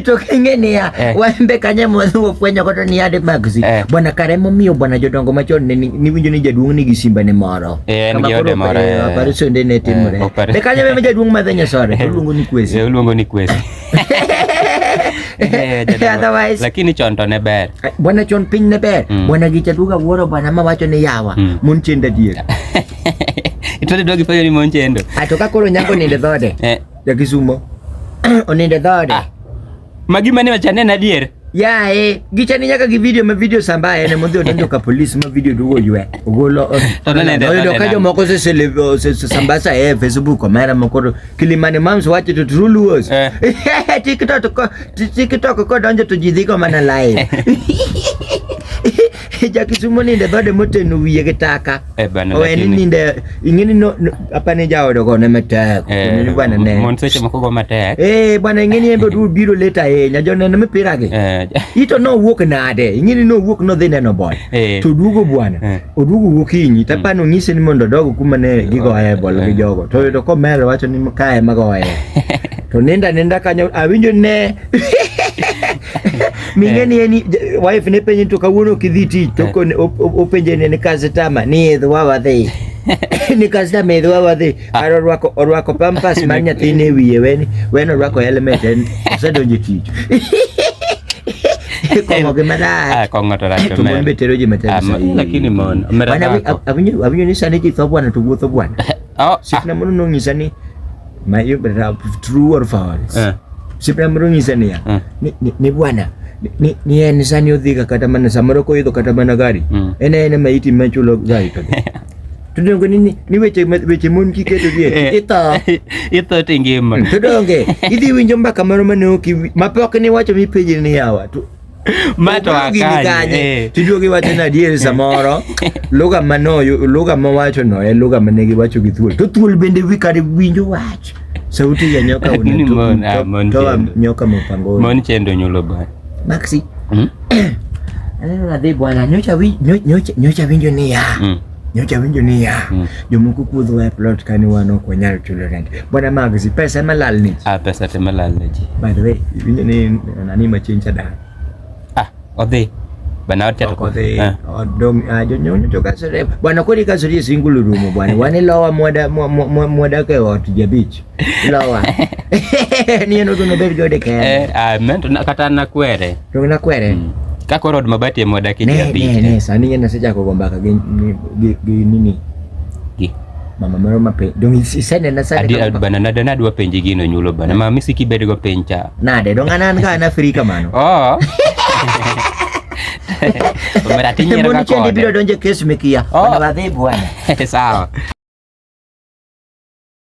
tukinge niya eh. wembe kanye mwadhiwo fwenyo koto ni ade magzi eh. bwana kare momiyo bwana jodongo machon ne niwinjo ni jaduong' nigi simba ne moro eh, en gi ode moro eh, operation eh. de ne timore eh, be kanye meme jaduong' madhe nyasore oluongo ni kwesi oluongo ni kwesi Eh, otherwise lakini chon to ne ber eh, bwana chon piny ne ber mm. bwana gi chaduga wuoro bwana ma wacho ni yawa mm. mon chendo adier itode dwagi penjo ni mon chendo ato ka koro nyango ninde dhode eh. Ja Kisumo. Oninde dhode. Ah. Magi mane wachane na dier. Ya e, gichani nyaka gi video ma video samba ene mondhi odonjo ka polis ma video dugo ywe. Ogolo. Oyudo ka jomoko se se samba sa e Facebook omera moko Kilimani Moms wacho to true luos. Eh. TikTok ko TikTok ko donjo to ji dhigo mana live. ja Kisumo ninde dhode moteno wiye gi taka eh, oweni ninde ing'eni no, no, apa ni jaodo go ne matek eh, bwana ne mon seche moko go matek eh bwana ing'eni embe du biro leta ahinya joneno mipira gi eh. ito no wuok nade ing'eni no wuok no dhi neno bol eh. to duogo bwana eh. oduogo gokinyi to apani mm. onyise ni mondo odogo kuma ne gigoye bol gi eh. jogo to yudo komelo wacho ni kae magoye to ninda ninda kanyo awinjo ne mingeni eh. ni wife ne penye to kawuono kidhi tich to eh. openje ne customer ni idh wa wadhi ni customer idh wa wadhi ah. kar orwako orwako pampas mar nyathine wiye wen wen orwako helmet en osedonje tich kong'o gi marach ah, kong'o to rach to mon be tero ji matek ah, lakini mon awinjo ni sani ji tho bwana to wuotho bwana oh, sikna mono nong'isa ni Mayo brother true or false. Eh. Sipra mrungi sania. Eh. Ni, ni, ni bwana ni ni en sani odhiga kata mana samoro koidho kata mana gari. Mm. En en ma iti ma chulo gari to. Tudongo ni ni weche weche mon kiketo gie. Eh. Ito. Ito tingima. Mm, Tudonge. Idhi winjo mbaka moro mane oki mapok ni wacho mi pejini yawa. tiduogo iwacho ni adier samoro lugha lugha mowacho no en lugha mane giwacho gi thuol to thuol bende kare winjo wach sauti ya nyoka unatoa nyoka mapangoni mon chendo nyulo bwana maxi hmm? aneno nadhi bwana nyocha winjo niya hmm. nyocha winjo niya mm. jomoko kuodho e plot kani wan ok wanyal chulo rent bwana magzi pesa ema lal ni ah pesa te malal ni ji by the way winjo ni nani machien cha dan ah odhi bana wote odhi ah. odong ah, jonyonyo to kasore bwana kodi kasore single room bwana wani lowa mwada mwada ke ot jabich Lowa. Ni en ogono bed gode kende. Eh, ah, men to na- kata nakwere. To na kwere. Mm. Ka koro od mabati ema wadake ji Ne ne abich. ne sani yenda seja ko gomba ka gi gi gi nini. Gi. Mama moro mape. Dong isene na sani. Adi ka- ad- bana nada nadwa penji gino nyulo bana. Ma misi kibed go piny cha. Nade dong anan ka na free kamano. Oh. Omera tinyero Mbona ka chendi biro kode. donje kes mekia. Oh. Bana wadhi bwana. Sawa.